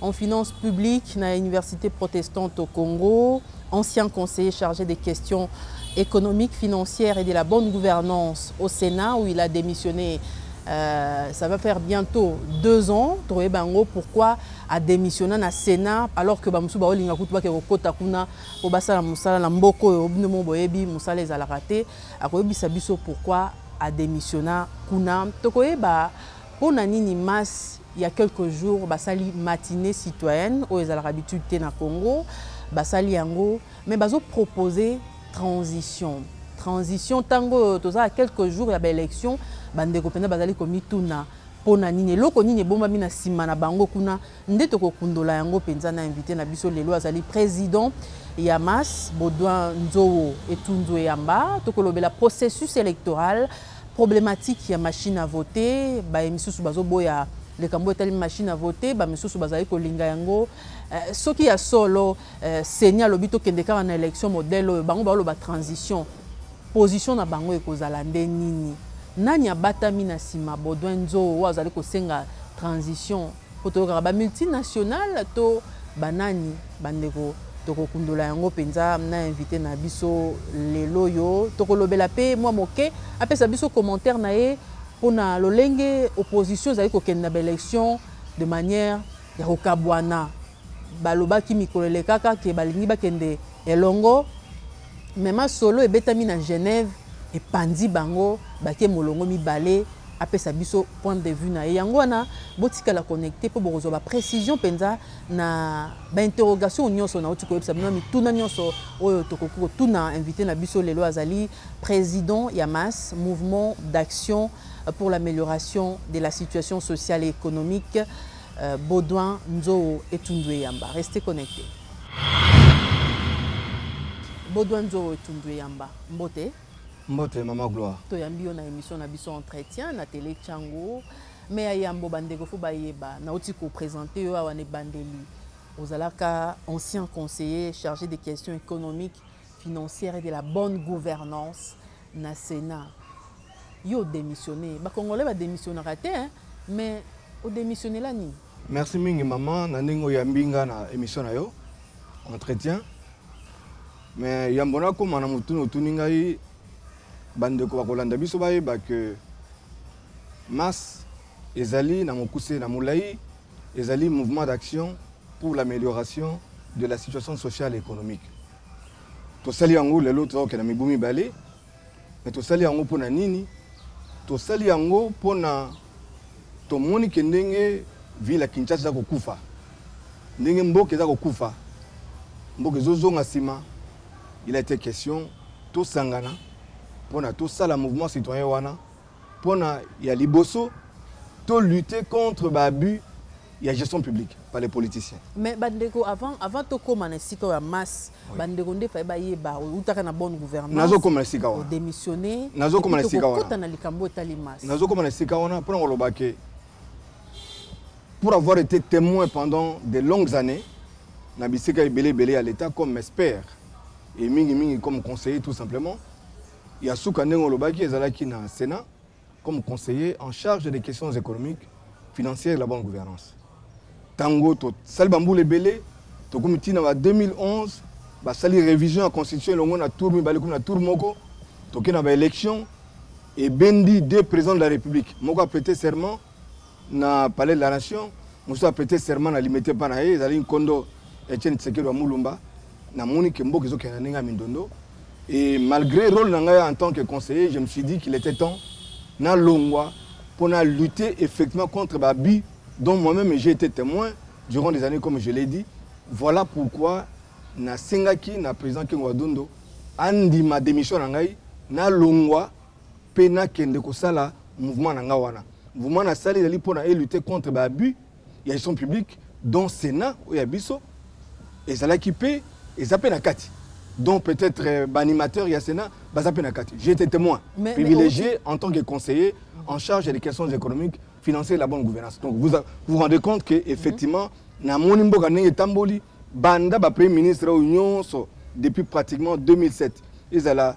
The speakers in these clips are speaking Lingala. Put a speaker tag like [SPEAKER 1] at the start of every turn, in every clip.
[SPEAKER 1] en finances publiques na Université protestante au Congo, ancien conseiller chargé des questions économiques, financières et de la bonne gouvernance au Sénat où il a démissionné euh, ça va faire bientôt deux ans toye bango pourquoi adémissionna na sénat alors que bamosusu baolinga kutu bakee kokota kuna mpo basala mosala na mboka oyo bino mo boyebi mosala ezalaka te akoyebisa biso pourquoi adémissionna kuna tokoyeba Pona nini masse ya quelques jours basali matinee citoyenne oyo ezalaka habitude te na Congo basali yango mais bazo proposer transition transition tango oyo toza a quelques jours ya ba elections ba ndeko penza bazali komituna pona nini eloko nini ebombami na sima na bango kuna Nde toko kundola yango penza na invite na biso lelo azali president ya mas Baudouin Nzowo Etunzu Eyamba toko lobela processus electoral problematique ya machine à voter baye misusu bazo boya likambo etali machine à voter ba misusu bazali kolinga yango eh, soki ya solo eh, seni alobi tokende kaka na election modèle oyo bango baoloba transition position na bango ekozala nde nini nani abatami na nsima Baudouin Nzowo oyo azali kosenga transition Po toyokaka ba multinationales to ba nani ba ndeko? Toko kundola yango penza na invite na biso lel'oyo. Toko lobela pe mwa moke apesa biso commentaire na ye pona lolenge opposition ezali kokende na ba elections de manière ya kokabuana. Balobaki mikolo elekaka que balingi bakende elongo mais masolo ebetami na Genève epanzi bango bake molongo mibale apesa biso point de vue na ye yango wana botikala connecte mpo bokozwa ba précision mpenza na ba interrogation nyonso nauti koyebisa bino mituna nyonso oyo tokoki kotuna invité na biso lelo azali président ya mas mouvement d'action pour l'amélioration de la situation sociale et économique Baudouin Nzoo Etundu Eyamba restez connectes. Baudouin Nzoo Etundu Eyamba mbote. Mbote maman
[SPEAKER 2] Gloire. Toyambi yo na emission
[SPEAKER 1] na biso Entretien na Tele Tshangu. Mais ya yambo ba ndeko faut bayeba nauti ko presenter yo awa na ebandeli ozalaka ancien conseiller charge des questions economiques, financières et de la bonne gouvernance na senat yo o demissionne ba congolais ba demissionnaka te hein mais o demissionnela nini? Merci mingi maman
[SPEAKER 2] na ndenge oyambi nga na emission na yo entretien mais yambo nakoma na motuna otuni ngai bandeko bakolanda biso bayeba ke masse ezali na mokuse na molai ezali mouvement d'action pour l'amélioration de la situation sociale et économique tosali yango lelo toza kokenda mibu mibale me tosali yango mpo na nini tosali yango mpo na tomoni ke ndenge ville ya kinshasa eza kokufa ndenge mboka eza kokufa mboka ezozonga nsima il a été question tosangana mpo na tosala mouvement citoyen wana Pona ya liboso to lutter contre ba abus il y a gestion publique par les politiciens. Mais bandeko avant
[SPEAKER 1] avant to koma na sika ya masse oui. bandeko nde faye ba yeba utaka na bonne gouvernance. Nazo koma na sika wana.
[SPEAKER 2] Démissionner. Nazo koma
[SPEAKER 1] na sika wana.
[SPEAKER 2] Kota na likambo etali
[SPEAKER 1] masse. Nazo koma na sika wana
[SPEAKER 2] pona ko loba ke pour avoir été témoin pendant de longues années na bisika ebele ebele ya l'état comme expert et mingi mingi comme conseiller tout simplement Ya suka ndenge olobaki ezalaki na Senat comme conseiller en charge des questions economiques, financières et la bonne gouvernance. Tango to sali ba mbula ebele to komi tina ba 2011 ba sali révision ya constitution elongo na tour mibale komi na tour moko toke na ba élections et bendi deux présidents de la République moko a prêter serment na palais de la nation mosusu apete serment na limete mpa na ye ezali nkondo etienne tshisekedi wa mulumba namoni ke mboka ezokende na ndenge ya mindondo et malgré rôle na ngai en tant que conseiller je me suis dit qu'il était temps nalongwa mpo na lutter effectivement contre baabus dont moi-même j'ai été témoin durant des années comme je l'ai dit voilà pourquoi nasengaki na président kengo adundo andima démission na ngai nalongwa pe na kende ko sala mouvement na nga wana mouvement na sali ezali pona e lutter contre ba abus ya gestion publique dont senat oyo ya biso ezalaki pe eza pe na kati dont peut-être euh, ba animateur ya senat baza pe na kati j'étais témoin mais, privilégié mais, en tant que conseiller en charge des questions économiques financières et la bonne gouvernance donc vous a, vous rendez compte que effectivement mm -hmm. na moni mboka ndenge etamboli banda ba premier ministre oyo nyonso depuis pratiquement 2007 ezala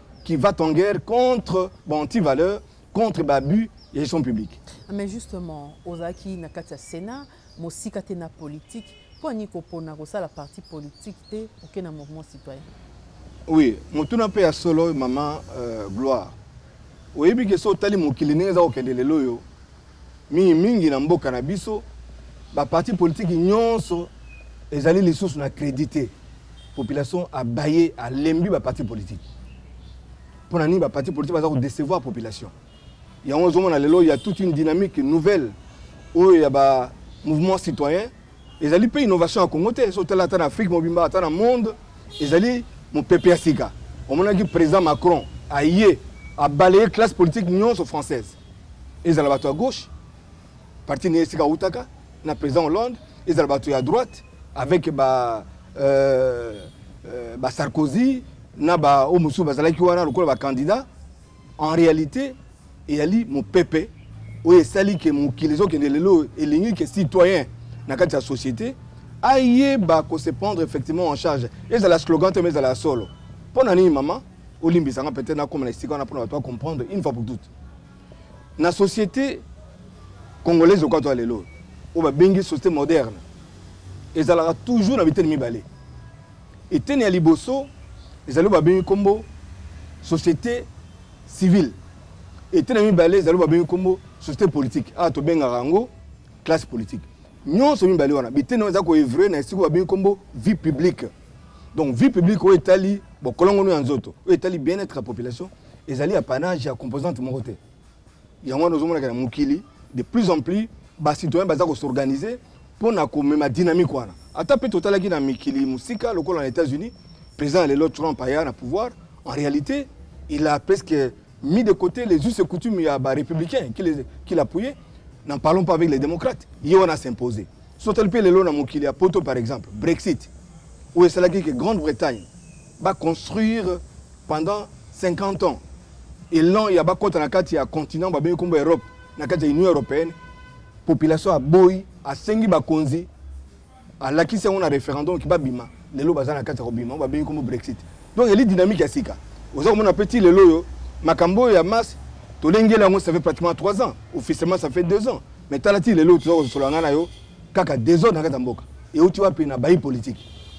[SPEAKER 2] qui va en guerre contre ba antivaleurs, contre ba abus ya gestion publique. Ah, mais justement,
[SPEAKER 1] ozalaki na kati ya Sénat, mosika te na politique, mpo ani kopona kosala parti politique te oke na mouvement citoyen? Oui,
[SPEAKER 2] motuna mpe ya solo mama euh, Gloire. Oyebi ke so otali mokili ndenge eza kokende lelo oyo Mingi mingi na mboka na biso, ba partis politiques nionso ezali lisusu na credit te. Population abaye, alembi ba partis politiques. Pona nini ba partis politiques baza ko decevoir population? Yango ozomona lelo ya toute une dynamique nouvelle oyo ya ba mouvements citoyens Ezali mpe innovation ya Congo te, so tala ata na Afrique mobimba, ata na monde, ezali mopepe ya sika. Omonaki président Macron aye a balayer classe politique nyonso française, ezala bato ya gauche, parti na ye esika awutaka na président Hollande, ezala bato ya droite avec ba euh, euh, ba Sarkozy na ba oyo mosusu bazalaki wana lokola ba candidat En realite, eyali mopepe oyo esali ke mokili ezokende lelo elingi ke citoyen na kati ya société ayeba ko se prendre effectivement en charge ezala slogan te mais ezala solo mpo na nini mama olimbisa nga peut-être nakoma na esika wana mpo na bato bacomprendre une fois pour toute na société congolaise oka to ya lelo oyo babengi société moderne ezalaka toujours na biteni mibale Eteni ya liboso ezali oyo babengi nkombo societe civile. Eteni ya mibale ezali oyo babengi nkombo societe politique. Awa tobengaka yango classe politique. Nyonso mibale wana biteni wana ezali koevre na esika oyo babengi nkombo vie publique. Donc vie publique oyo etali bokolongono ya nzoto, oyo etali bien-être ya population ezali apanage ya composante moko te. yango wana ozomonaka na mokili de plus en plus bacitoyen baza kosorganize mpo na komema dynamique wana ata mpe totalaki na mikili mosika lokola na états-unis président ya lelo trump aya na pouvoir en réalité il a presque mis de côté les us et coutumes ya barépublicain qu'il appuyait n'en parlons pas avec les démocrates ye wana s'imposer sotali mpe lelo na mokili ya poto par exemple brexit oyo esalaki ke grande bretagne Ba construire pendant 50 ans elan ya bakota na kati ya continent babengi nkombo ya Europe na kati ya Union européenne, population aboyi, asengi bakonzi, alakisi yango na referendum ki babima, lelo baza na kati ya kobima, babengi nkombo Brexit. Donc eli dynamique ya sika. Oza komona pe ti lelo oyo makambo oyo ya masse tolengeli yango ça fait pratiquement 3 ans, officiellement ça fait 2 ans. Mais tala ti lelo toza kosolola ngai na yo Kaka desordre na kati ya mboka ewuti wapi na bayi politique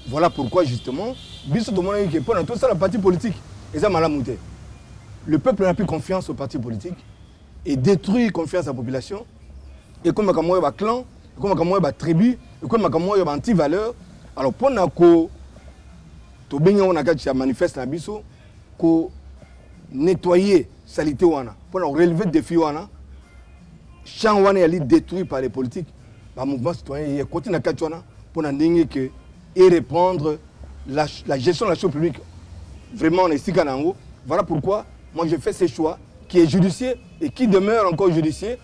[SPEAKER 2] voilà pourquoi justement biso tomonaki ke pona tosala parti politique eza malamu te le peuple n'a plus confiance au parti politique et détruire confiance ya population ekomaka moyo ba clan ekomaka moyo ba tribu ekomaka moyo ba anti valeur alors pona ko tobengi yango na kati ya manifeste na biso ko nettoyer salite wana pona ko relever défi wana champ wana yali détruit par les politiques ba mouvement citoyen ye koti na kati wana mpo na ndenge ke e reprendre la, la gestion de la chose publique vraiment na esika na yango voilà pourquoi moi je fais ce choix qui est judicieux et qui demeure encore judicieux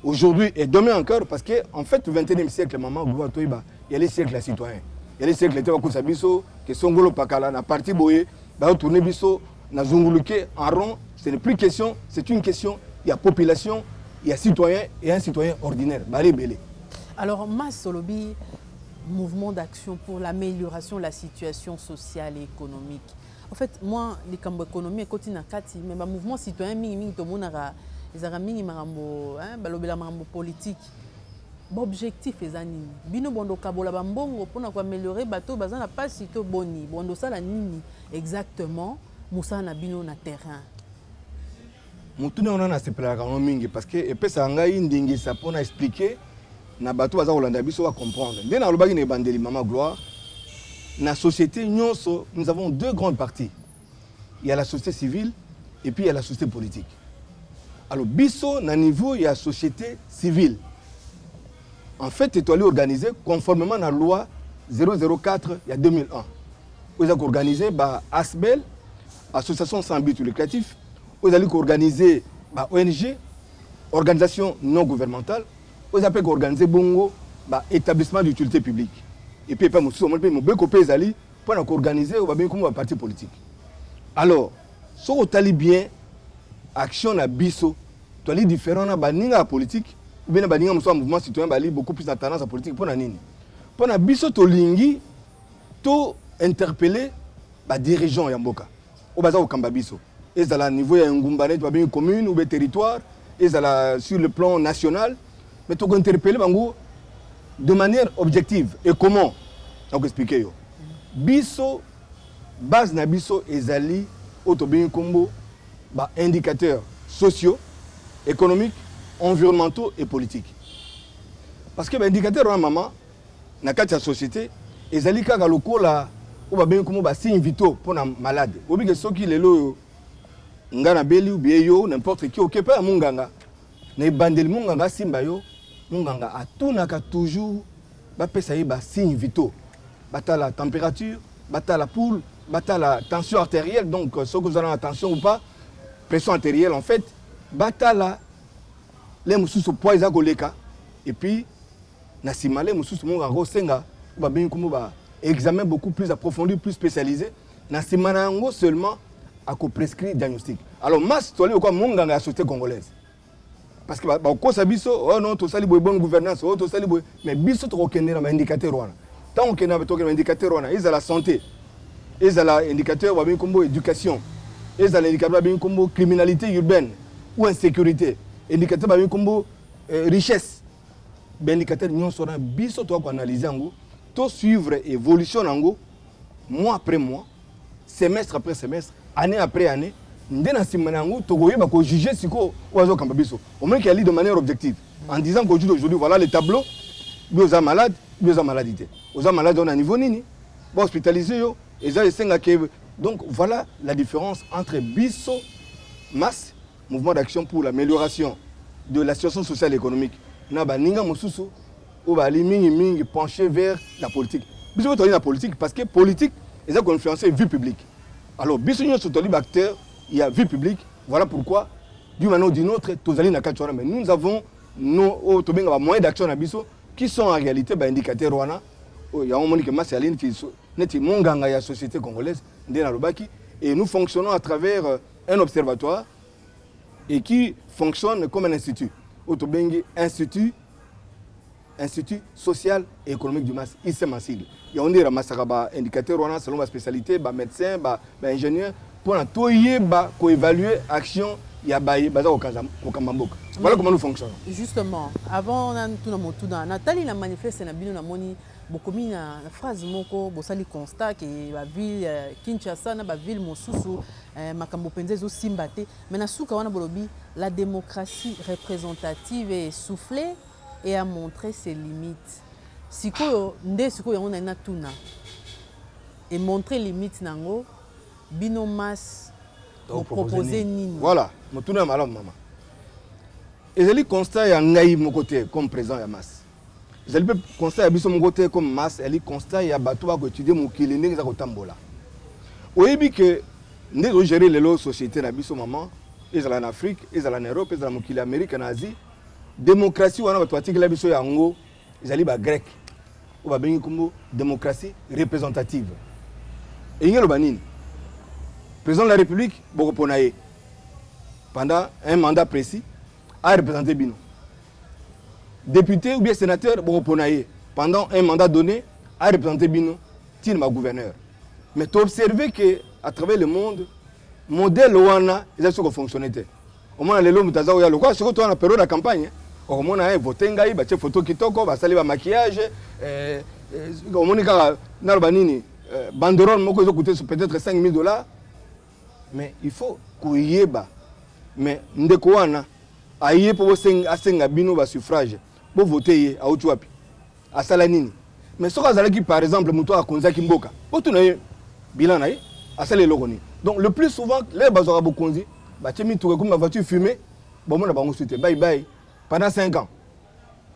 [SPEAKER 2] aujourd'hui et demain encore parce que en fait le 21e siècle maman goa toyeba yali siècle ya citoyen yali siècle te bakosa biso ke songolo pakala na parti boye Bazo tourner biso na zunguluke en rond, ce n'est plus question, c'est une question ya population, ya citoyen et un citoyen ordinaire. Bale ebele. Alors Mas
[SPEAKER 1] olobi mouvement d'action pour l'amélioration de la situation sociale et économique. En fait, moi, les cambo économie ekoti na kati, mais ba mouvement citoyen mingi mingi tomonaka ezaka mingi makambo, hein, balobela makambo politique. Ba objectif eza nini bino bondo kabola ba mbongo pona ko ameliorer bato oyo baza na pasi to boni bondo sala nini exactement musala na bino na terrain.
[SPEAKER 2] Motuna wana nasepelaka yango mingi parce que epesaka ngai ndingisa mpo na expliquer na bato baza kolanda biso ba comprendre nde nalobaki na ebandeli mama gloire na société nyonso nous avons deux grandes parties ya la société civile et puis ya la société politique alors biso na niveau ya société civile en fait etoali organise conformément na loi 004 ya 2001 oyo eza koorganize ba asbel association sans but lucratif oyo ezali koorganize ba ong organisation non gouvernementale oyo eza mpe koorganize bongo ba établissement d'utilité publique epuis epai mosusu omoni mpe mobeko mpe ezali mpo na koorganize oyo babengi kombo ba parti politique alors soki otali bien action na biso toali différent na baninga ya politique oubien na baninga mosusu ya mouvement citoyen bali beaucoup plus na tendance ya politique mpo na nini mpo na biso tolingi to interpelle badirigeant ya mboka oyo baza kokamba biso ezala niveau ya engumba neti babengi commune ou territoire ezala sur le plan national mais toko interpelle bango de manière objective et comment nako explique yo biso base na biso ezali oyo tobengi nkombo ba indicateurs sociaux économiques environnementaux et politiques parce que ba indicateurs wana mama na kati ya société ezali kaka lokola oyo babengi komo ba signe vitaux mpo na malade oyebi ke soki lelo oyo nga nabeli ubie yo n'importe qui okepa ya monganga na ebandeli monganga asimba yo monganga atunaka toujours bapesa ye ba signe vitaux batala température batala poule batala tension artérielle donc euh, soki ozala na tension ou pas pression artérielle en fait batala le mosusu poids eza koleka et puis na sima le mosusu moko akosenga babengi kombo ba examen beaucoup plus approfondi plus spécialisé na sima na yango seulement akoprescrire diagnostic alors mas toali lokola monganga ya société congolaise parce que bakokosa biso oh non tosali boye bonne gouvernance oyo oh, tosali boye mais biso tokokende na baindicateur wana ntango okende tokende na indicateur wana ezala santé ezala indicateur babengi nkombo éducation ezala indicateur babengi nkombo criminalité urbaine ou insécurité indicateur babengi nkombo euh, richesse ba indicateur nyonso wana biso toya koanalyse yango to suivre évolution na yango mois après mois semestre après semestre année après année nde na nsima na yango tokoyeba kojuge sikoyo oyo azokamba biso omoniki ali de manière objective en disant qu'aujourd'hui aujourd'hui voilà le tableau bi oza malade bi oza maladi te oza malade oyo na niveau nini bahospitalise yo eza esengake donc voilà la différence entre biso masse Mouvement d'action pour l'amélioration de la situation sociale et économique na baninga mosusu oyo bazali mingimingi penche vers la politique biso mpe tozali na politique parce que politique eza koinfluence vie publique alors biso nyonso tozali baacteur ya vie publique voilà pourquoi d'une manière ou d'une autre tozali na kati wana mais nous avons no oyo tobenga bamoyen d'action na biso qui sont en réalité baindicateur wana oyo yango omoni ke masi ali neti monganga ya société congolaise nde nalobaki et nous fonctionnons à travers euh, Un observatoire et qui fonctionne comme un institut. Auto bengi institut Institut social et économique du Mas, ISEM en sigle. Il y a on dit ramassaka ba indicateur wana selon ba spécialité, ba médecin, ba, ba ingénieur pour na toyeba ko évaluer action ya baye baza kokanza kokamba mboka. Voilà comment nous fonctionnons. Justement, avant
[SPEAKER 1] na tuna motuna, na tali na manifeste na bino na moni bokomi na phrase moko bosali constat ke ba ville euh, Kinshasa na ba ville mosusu Eh, makambo penza ezo simba te mais na suka wana bolobi la démocratie représentative est essoufflée et a montré ses limites sikoyo nde sikoyo yango nani natuna e montre limite na yango bino masse bopropose nini voilà motuna ya malamu
[SPEAKER 2] mama ezali constat ya ngai moko te comme président ya masse ezali mpe constat ya biso moko te comme masse ezali constat ya bato bakoétudie mokili ndenge eza kotambola oyebi ke nde tozogere lelo société na biso mama ezala na afrique ezala na europe ezala mokili ya amérique na asie démocratie wana bato batikela biso yango ezali bagrec oyo babengi nkombo démocratie représentative elingi eloba nini président de la république bokopona ye pendant un mandat précis areprésente bino depute ou bien sénateur bokopona ye pendant un mandat donné arepresente bino ti na bagouverneur mais toobserve que à travers le monde modèle wana eza soki kofonctionne te omona lelo moto aza koya lokola soki toa na periode ya campagne okomona ye vote ngai batie foto kitoko basali bamaquillage eh, eh, omoni kaka naloba nini eh, banderole moko ezokute peut-être 5000 dollars mais il faut koyeba mais ndeko wana aye mpo asenga bino basuffrage bovote ye auti wapi asala nini mais soki azalaki par exemple moto akonzaki mboka botuna ye bilan na ye asala eloko nini donc le plus souvent lelo bazwaka bokonzi batie mituka ekomi bavoiture fume bomona bango su te baibai pendant 5 ans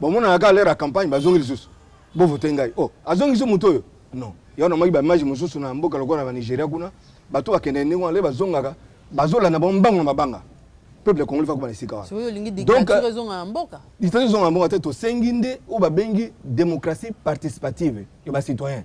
[SPEAKER 2] bomonaka kaka lere ya campagne bazongi lisusu bovote ngai o oh, azongisi moto oyo non yango namaki baimage mosusu na mboka lokola na banigeria kuna bato bakendeke ndenge wana le bazongaka bazolanda bango mbango na mabanga peuple congolais fakoma na esika wanadictature
[SPEAKER 1] ezonga na mboka te
[SPEAKER 2] tosengi nde oyo babengi démocratie participative ya bacitoyen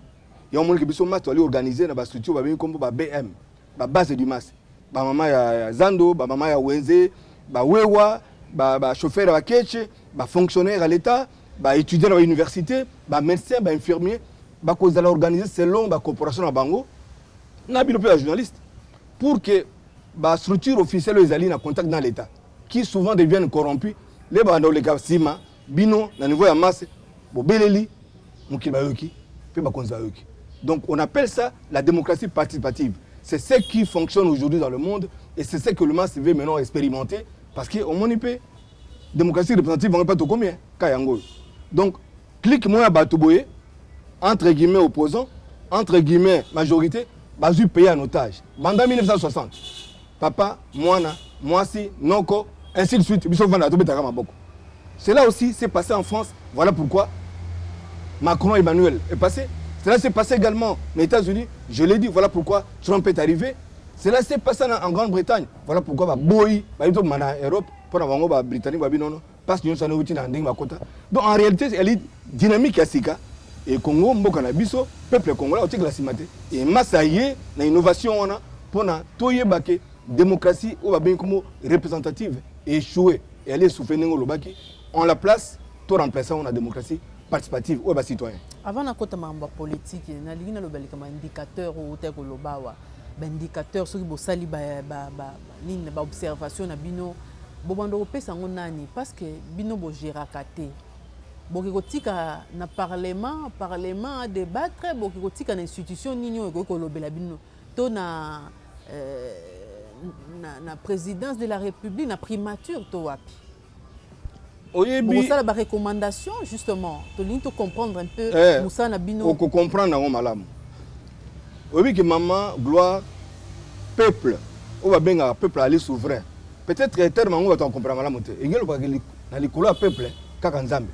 [SPEAKER 2] yango omonike biso mati ali organise na bastructure babengi nkombo ba bm ba base du mas ba mama ya, ya zando ba mama ya wenze ba wewa ba, ba chauffeur ya bakeche ba fonctionnaire ya l'etat ba étudiant na ba université ba médecin ba infirmier bakozala organise selon ba corporation na bango na bino mpe ba journaliste pour que ba structure officielle oyo ezali na contact na l'etat qui souvent deviennent corrompu le banda oleka nsima Bino na niveau ya masse bobeleli mokili bayoki mpe bakonzi bayoki. Donc on appelle ça la démocratie participative. C'est ce qui fonctionne aujourd'hui dans le monde et c'est ce que le masse veut maintenant expérimenter parce que omoni mpe démocratie représentative yango mpe tokomi ka yango oyo. Donc clique moi ya bato boye entre guillemets opposant entre guillemets majorité bazwi pays en otage banda 1960 papa mwana mwasi noko ainsi de suite biso vanda tobetaka maboko cela aussi s'est passé en France voilà pourquoi Macron Emmanuel est passé cela s'est passé également aux États-Unis je l'ai dit voilà pourquoi Trump est arrivé cela s'est passé en Grande-Bretagne voilà pourquoi baboyi bayi tobima na Europe mpo na bango ba Britannique babi nono Pasi nionso wana euti na ndenge bakota. Donc en réalité elle est dynamique ya sika et Congo mboka na biso peuple congolais otikela sima te et massa ye na innovation wana pona toyeba ke démocratie oyo babengi komo représentative échoué et elle est soufflée ndenge olobaki en la place to remplacer yango na démocratie participative oyo bacitoyen avant nakota makambo ya
[SPEAKER 1] politike nalingi naloba likambo ya indicateur oyo otaki koloba awa baindicateur soki bosali nini baobservation na bino Bobanda kopesa yango nani pasque bino bo geraka te boke kotika na parlement parlement a debattre boke kotika na institution nini oyo ekoki kolobela bino to na na presidence de la republique na primature to wapi. Oyebi. Bokosala ba recommandations justement. Tolingi to comprendre un peu eh, musala na bino. Oko comprendre yango malamu.
[SPEAKER 2] Oyebi que maman gloire peuple oyo babengaka peuple ali souverain peut-être terme yango bato bakomprena malamu te engeli okokaki na likolo ya peuple kaka nzambe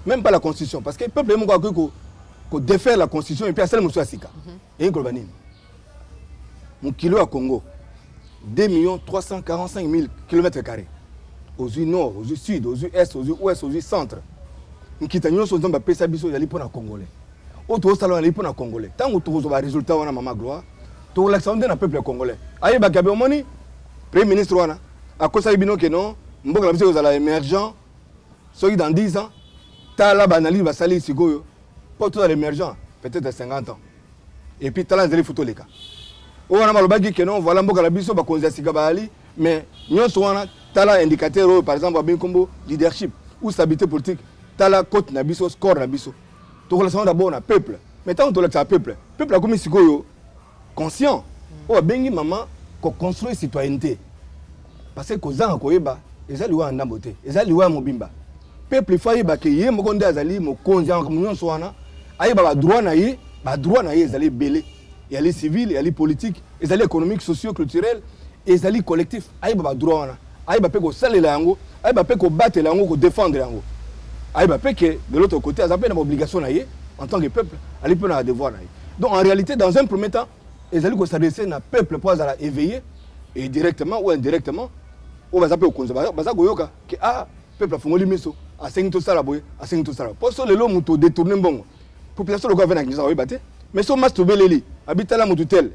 [SPEAKER 2] même pas la constitution parce que peuple ye moko akoki kodefaire la constitution epuis asali mosusu ya sika mhm. eyi koloba nini mokili ya congo 2 millions 345 000 kilomètre carré ozwi nord ozwi sud ozwi est ozwi ouest ozwi centre nkita nyonso nzambe apesa biso ezali mpo na congolais oyo tokosala ezali mpo na congolais ntango tokozwa baresultat wana mama gloire tokolakisa yango nde na peuple congolais ayebaka be omoni premier ministre wana akosaki bino ke non mboka na biso ekozala émergent soki dans 10 ans tala baanalyse basali sikoyo Mpo tozala emergent peut-être 50 ans. Et puis tala nzela ifuti oleka. Oyo wana balobaki que non voilà mboka na biso bakonzi ya sika bayali mais nyonso wana tala indicateur oyo par exemple abengi nkombo leadership ou stabilité politique tala cote na biso score na biso tokolakisa yango d'abord na peuple mais ntango tolakisaka peuple peuple akomi sikoyo conscient oyo abengi mama ko construire citoyennete parce que kozanga koyeba eza liwa ya ndambo te eza liwa ya mobimba peuple ifo ayeba ke ye moko nde azali mokonzi ya makambo nyonso wana ayeba badroit na ye badroit na ye ezali ebele eyali civile eyali politique ezali économique socio culturel ezali collectif ayeba ba droit wana ayeba pe kosalela yango ayeba pe kobatela yango ko defendre yango ayeba pe ke de l'autre côté aza pe na ba obligation na ye en tant que peuple ali pe na ba devoir na ye donc en réalité dans un premier temps ezali ko s'adresser na peuple po azala éveillé et directement ou indirectement oyo baza pe kokonza baza koyoka ke ah peuple afungoli miso asengi tosala boye asengi tosala po so lelo moto odetourne mbongo population lokola vena kinshasa oyeba te mais so mas tobeleli abi tala motu tel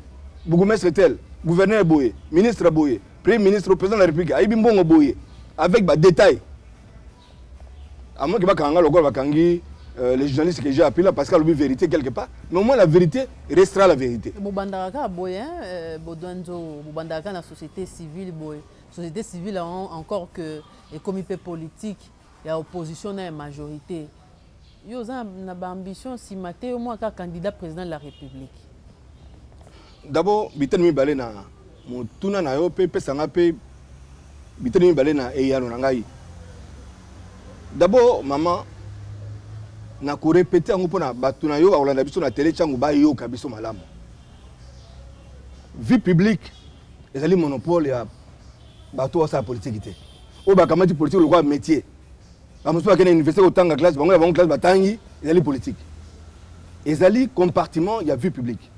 [SPEAKER 2] bourgmestre tel gouverneur boye ministre boye premier ministre président de la république ayebi mbongo boye avec badétail amoki bakanga ngai lokola bakangi euh, le journaliste que j'ai appelé là parce qu'il a oublié vérité quelque part. Mais au moins la vérité restera la vérité. Bobandaraka boye, hein,
[SPEAKER 1] euh, Bodwanzo, Bobandaraka la société civile boye. Société civile encore que économie politique. ya opposition na ya majorite yo oza na ba ambition sima te yo mwa kaka candidat president de la republique
[SPEAKER 2] d'abord biteni mibale na motuna na yo mpe pesa ngai mpe biteni mibale na eyano na ngai d'abord mama na korepete yango mpo na bato na yo bakolanda biso na tele ntango bayoka biso malamu vie publique ezali monopole ya bato oyo basala politiki te oyo bakamati politique lokola métier bamosusu bakende na université kotanga classe bango na bango classe batangi ezali politique ezali compartiment ya vie publique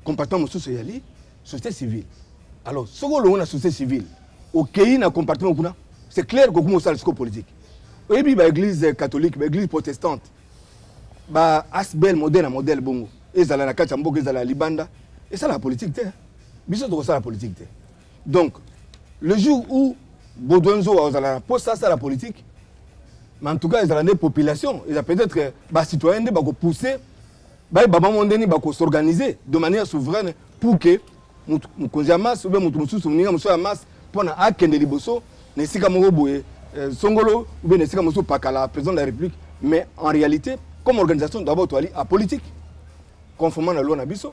[SPEAKER 2] compartiment mosusu ezali société civile alors soki olongo na société civile okei na compartiment kuna c'est clair kokuma osala siko politique oyebi baeglise catholique baeglise protestante ba asbel modèle na modèle bongo ezala na kati ya mboka ezala ya libanda esalaka politique te biso tokosala politique te Donc, le jour où Baudouin Nzoa ozala na poste asala politique, mais en tout cas ezala nde population, eza peut-être ba citoyens nde bako pousser baye baba mo ndeni bako s'organiser de manière souveraine pour que mokonzi ya masse oubien moto mosusu moninga mosusu ya masse mpo na akende liboso na esika moko boye euh, songolo oubien na esika mosusu pakala président de la république mais en réalité comme organisation d'abord toali apolitique conformément na loi na biso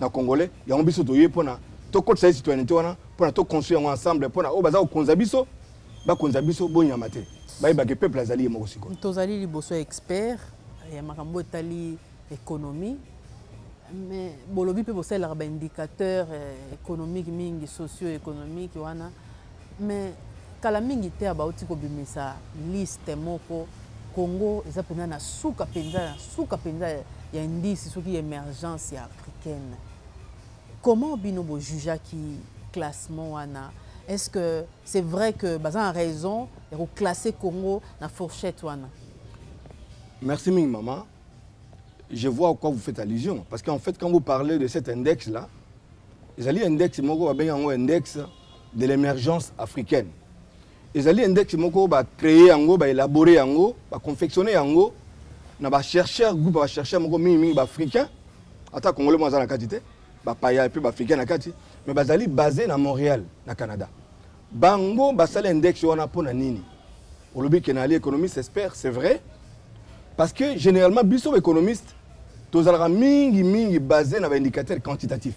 [SPEAKER 2] na congolais yango biso toye pona tokotisa ye citoyenneté wana pona to construire yango ensemble pona oyo baza kokonza biso bakonza biso bonyama te bayebake peuple azali ye moko sikoyo tozali liboso ya
[SPEAKER 1] expert ya makambo etali économie mais bolobi mpe bosalelaka baindicateur eh, économique mingi socio économique wana Mais kala mingi te bawuti kobimisa liste moko, Congo eza penza na suka penza ya suka penza ya indice soki ya emergence ya africaine. Comment bino bo jugeaki classement wana? Est-ce que c'est vrai que baza na raison ya ko classer Congo na fourchette wana?
[SPEAKER 2] Merci mingi maman. Je vois à quoi vous faites allusion. Parce qu'en fait, quand vous parlez de cet index-là, ezali index moko babengi yango index de l'emergence africaine ezali index moko ba créer yango ba élaborer yango ba confectionner yango na ba chercheurs groupe ba chercheurs moko mingi mingi ba africains ata congolais mo aza na kati te ba paya pe ba africains na kati mais bazali basé na Montréal na Canada bango basala index wana pona nini olobi ke nali économiste expert c'est vrai parce que généralement biso ba économiste tozalaka mingi mingi basé na ba indicateurs quantitatifs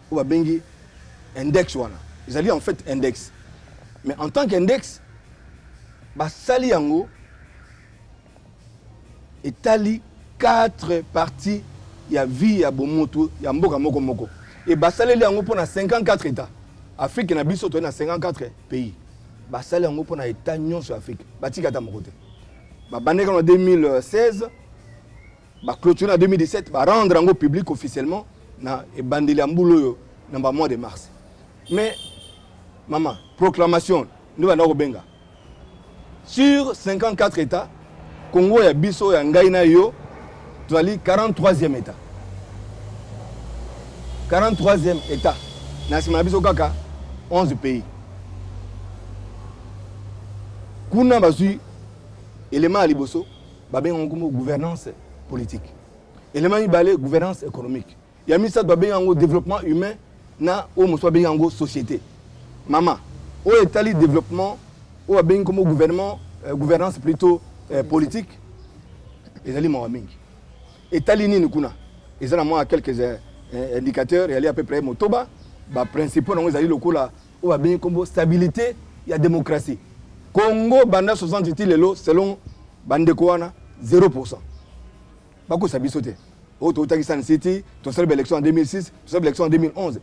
[SPEAKER 2] oyo babengi index wana ezali en fait index mais en tant qu'index basali yango etali quatre parties ya vie ya bomotu ya mboka moko moko e basaleli yango mpo na 54 état afrique na biso toyei na 54 pays basali yango mpo na état nyonso ya afrique batika ata moko te babandekano na 2016 Ba clôture na 2017 ba rendre yango public officiellement na ebandeli ya mbula oyo na ba mois de mars. Mais maman proclamation ndio banda kobenga sur 54 états Congo ya biso ya ngai na yo tozali 43e état 43e état na nsima na biso kaka 11 pays kuna bazwi elema ya liboso babenga yango nkombo gouvernance politique elema mibale gouvernance économique ya misato babengi yango développement humain na oyo mosusu babengi yango société mama oyo etali développement oyo babengi nkombo gouvernement euh, gouvernance plutôt euh, politique ezali mawa mingi etali nini kuna eza na mwa quelques euh, indicateurs yali à peu près motoba baprincipaux na yango ezali lokola oyo babengi kombo stabilite ya demokrasi congo banda 60 ti lelo selon bandeko wana 0 pourcent bakosa biso te oyo oh, toutaki san city tosali baélection en 2006 tosali baélection en 2011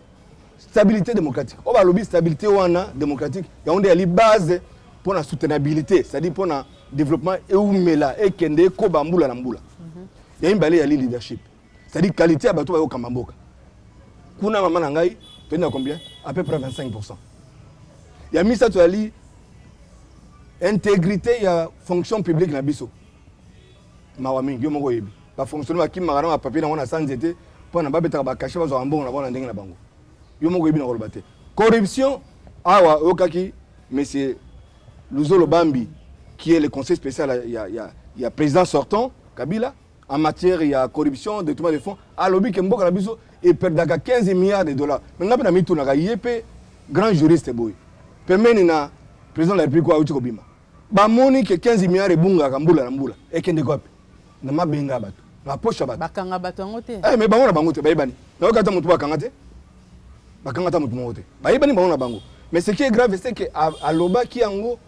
[SPEAKER 2] stabilité démocratique oyo oh, balobi stabilité wana démocratique yango nde yali base mpo na soutenabilité c'est-à-dire mpo na développement eumela ekende ekoba mbula na mbula mhm. ya mibale yali leadership C'est à dire qualité ya bato bayo kamba mboka. Kuna mama na ngai toyebi na combien? À peu près 25%. Ya misato yali intégrité ya fonction publique na biso. Mawa mingi yo moko oyebi. Ba fonctionnaires bakimaka na ba papier na wana sans nzete mpo na babetaka ba cachet bazwaka mbongo na bango na ndenge na bango. Yo moko oyebi na koloba te. Corruption awa oyokaki monsieur Luzolo Bambi qui est le conseil spécial ya, ya, ya président sortant Kabila en matière ya corruption détournement de fonds alobi ke mboka na biso eperdaka 15 milliards de dollars me ngai mpe na mitunaka ye mpe grand juriste boye pembeni na président de la république oyo auti kobima bamoni ke 15 milliards ebungaka mbula na mbula ekendeka wapi na mabenga ya bato na poche ya bato bakanga bato yango te eh,
[SPEAKER 1] me bango na bango te bayebani
[SPEAKER 2] nayoki ata motu bakanga te bakanga ata motu moko te bayebani bango na bango mais ce qui est grave c'est que alobaki yango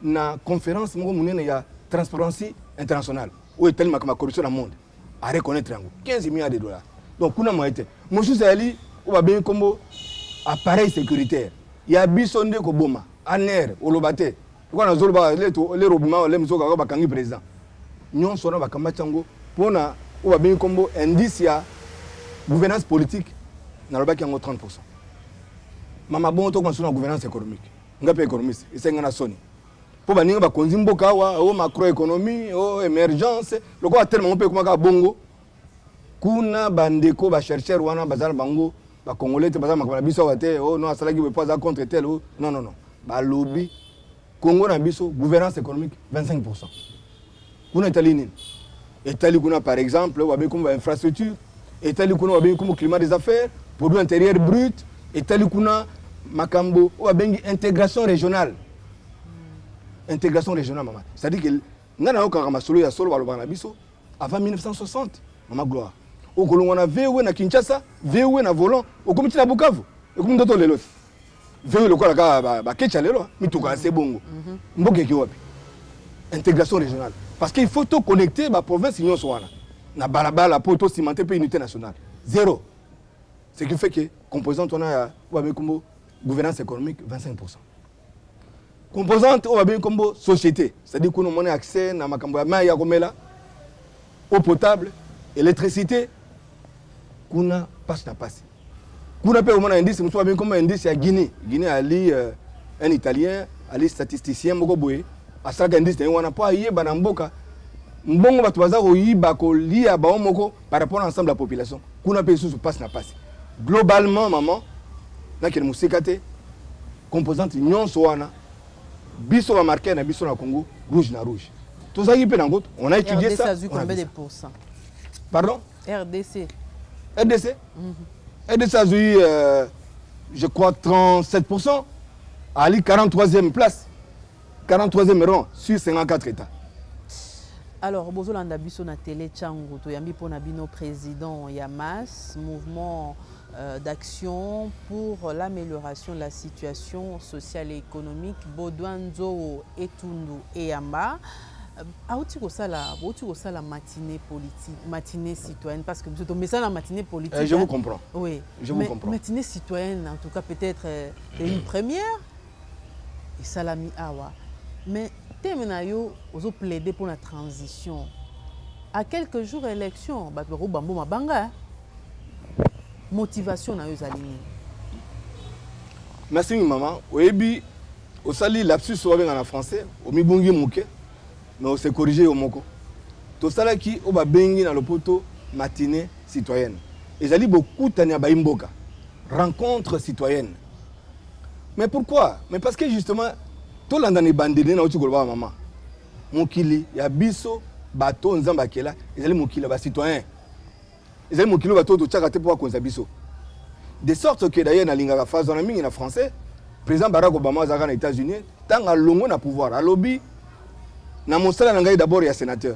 [SPEAKER 2] na conférence moko monene ya transparency internationale oyo etali makambo ya corruption na monde areconnaitre yango 15 milliards de dollars donc kuna moye te mosusu ezali oyo babengi nkombo appareil sécuritaire ya biso nde koboma aner oloba te lokola nazoloba lere obima ole mosusu kaka bakangi président nyonso wana bakamati yango mpo na oyo babengi nkombo indice ya gouvernance politique nalobaki yango 30 pourcent mama bongo tokoma suna gouvernance économique nga mpe économiste esengi nga na soni mpo baninga bakonzi mboka awa o oh, macroéconomie o oh, émergence lokola telema yango mpe ekomaka bongo kuna bandeko bachercheur wana baza na bango bacongolais te baza makambo na biso awa te o oh, no asalaki boye mpo aza contre tel o non non non balobi congo na biso gouvernance économique 25 pourcent kuna etali nini etali kuna par exemple wabengi komo ba infrastructure etali kuna wabengi komo climat des affaires produit intérieur brut etali kuna makambo oyo wabengi intégration régionale intégration régionale mama c'est à dire que ngai nayokaka masolo ya solo balobaka na biso avant 1960 mama gloire okolongwa na voe na kinshasa voe na volant okomi ntina bukavu ekomi ndoto lelo te Veyo lokola kaka bakecha lelo mituka ya se bongo mhm. mboka eke wapi intégration régionale parce qu'il faut to connecter ba province nyonso wana na balabala mpo to cimenter mpe unité nationale zéro ce qui fait que composante wana ya wabekumbo gouvernance économique 25 pourcent composante oyo babengi nkombo société c'est-à-dire kuna omoni accès na makambo ya mai ya komela eau potable électricité kuna mpasi na mpasi kuna mpe omona indice mosusu babengi nkombo indice ya guinée guinée ali euh, un italien ali statisticien moko boye asalaka indice na ye wana mpo ayeba na mboka mbongo bato baza koyiba kolia bango moko par rapport à ensemble la population kuna mpe lisusu mpasi na mpasi globalement maman nakende mosika te composante nyonso wana biso bamarquer na biso na congo rouge na rouge tozalaki mpe nango on a étudié ça
[SPEAKER 1] pardon
[SPEAKER 2] rdc
[SPEAKER 1] rdc
[SPEAKER 2] mhm. rdc azwi euh, je crois 37 ali 43e place 43e rang sur 54 etats.
[SPEAKER 1] Alors bozolanda biso na tele Changu toyambi mpo na bino président ya MAS mouvement euh, d'action pour l'amélioration de la situation sociale et économique Baudouin Nzoo Etundu Eyamba euh, auti kosala bouti kosala matinée politique matinée citoyenne parce que biso tomesana na matinée politique eh, je vous comprends oui je
[SPEAKER 2] vous comprends
[SPEAKER 1] matinée
[SPEAKER 2] citoyenne
[SPEAKER 1] en tout cas peut-être euh, une première esalami awa mais thème na yo ozo plaider pona transition à quelques jours ya election batu bako bambo mabanga motivation na yo ezali nini
[SPEAKER 2] merci mama oyebi osali lapsus wabenga na français omibungi moke mais ose corrige yo moko tosalaki oyo babengi na lopoto matinée citoyenne ezali bokutani ya baimboka rencontre citoyenne Mais pourquoi? Mais parce que justement tolanda na ebandeli na uti koloba mama mokili ya biso bato oyo nzambe akela ezali mokili ya bacitoyen ezali mokili oyo bato oyo totyaka te mpo bakonza biso de sorte que d'ailleurs nalingaka phrase wana mingi na français président barack obama azalaka na états-unis ntango alongwe na pouvoir alobi na mosala na ngai d'abord ya sénateur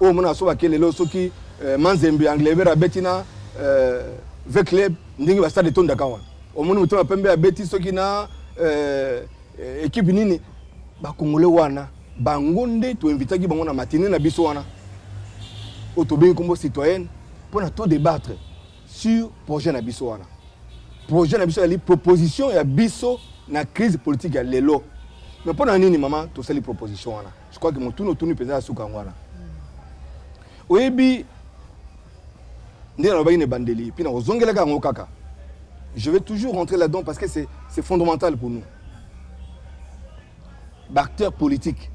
[SPEAKER 2] Oyo mona soba ke lelo soki euh, Manzembe Anglebert abeti na euh, V Club ndenge ba stade etondaka wana. Omoni motema pembe abeti soki na euh, equipe nini ba congolais wana bango nde to invitaki bango na matinée na biso wana. Oyo tobengi kombo citoyenne mpo na to débattre sur projet na biso wana. Projet na biso ezali proposition ya biso na crise politique ya lelo. Mais mpo na nini mama tosali proposition wana? je crois que motuna otuni mpenza ya suka yango wana oyebi nde nalobaki na ebandeli mpe nakozongelaka yango kaka je vais toujours rentrer là-dedans parce que c'est fondamental pour nous baacteur politique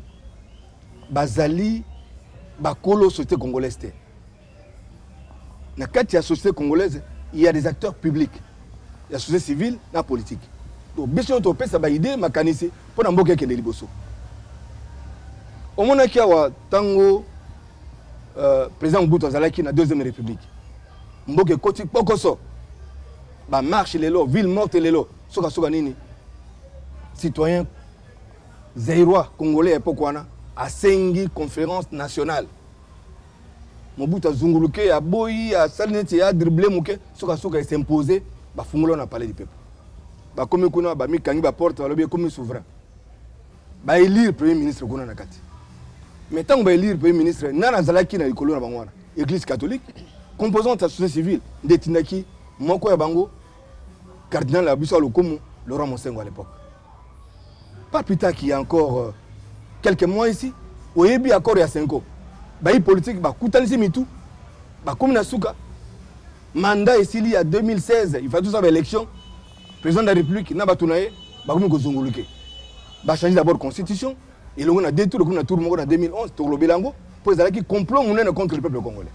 [SPEAKER 2] bazali bakolo société congolaise te na kati ya société congolaise il y a des acteurs publics ya société civile na politique donc biso nio topesa baide makanisi mpo na mboka ekende liboso omonaki awa ntango euh, président mobutu azalaki na deuxième république mboka ekoti kpokoso bamarche lelo ville morte lelo sukasuka nini citoyen zairois congolais ya epoke wana asengi conférence nationale Mobutu azunguluke, aboyi, asali neti ye a dribbler moke, suka suka e s'imposer, ba fungoli wana palais du peuple. Bakomi kuna, ba mi kangi ba portes, balobi ekomi souverain. Ba elire premier ministre kuna na kati. Mais tango ba elire premier ministre, nani azalaki na likolo na bango wana? Eglise catholique, composante ya société civile nde etindaki moko ya bango, cardinal na biso ya lokumu, Laurent Monsengwo à l'epoque. Pas plus tard qu'il y a encore euh, quelques mois ici, oyebi accord ya Senko. Bayi politique bakutanisi mitu, bakomi na suka. Mandat esili ya 2016, il fallait tout ça ba élection. Président de la République na bato na ye bakomi kozunguluke. Ba changer d'abord constitution, elongo na deux tours, na tour moko na 2011, tokolobela yango mpo ezalaki complot monene contre le peuple congolais.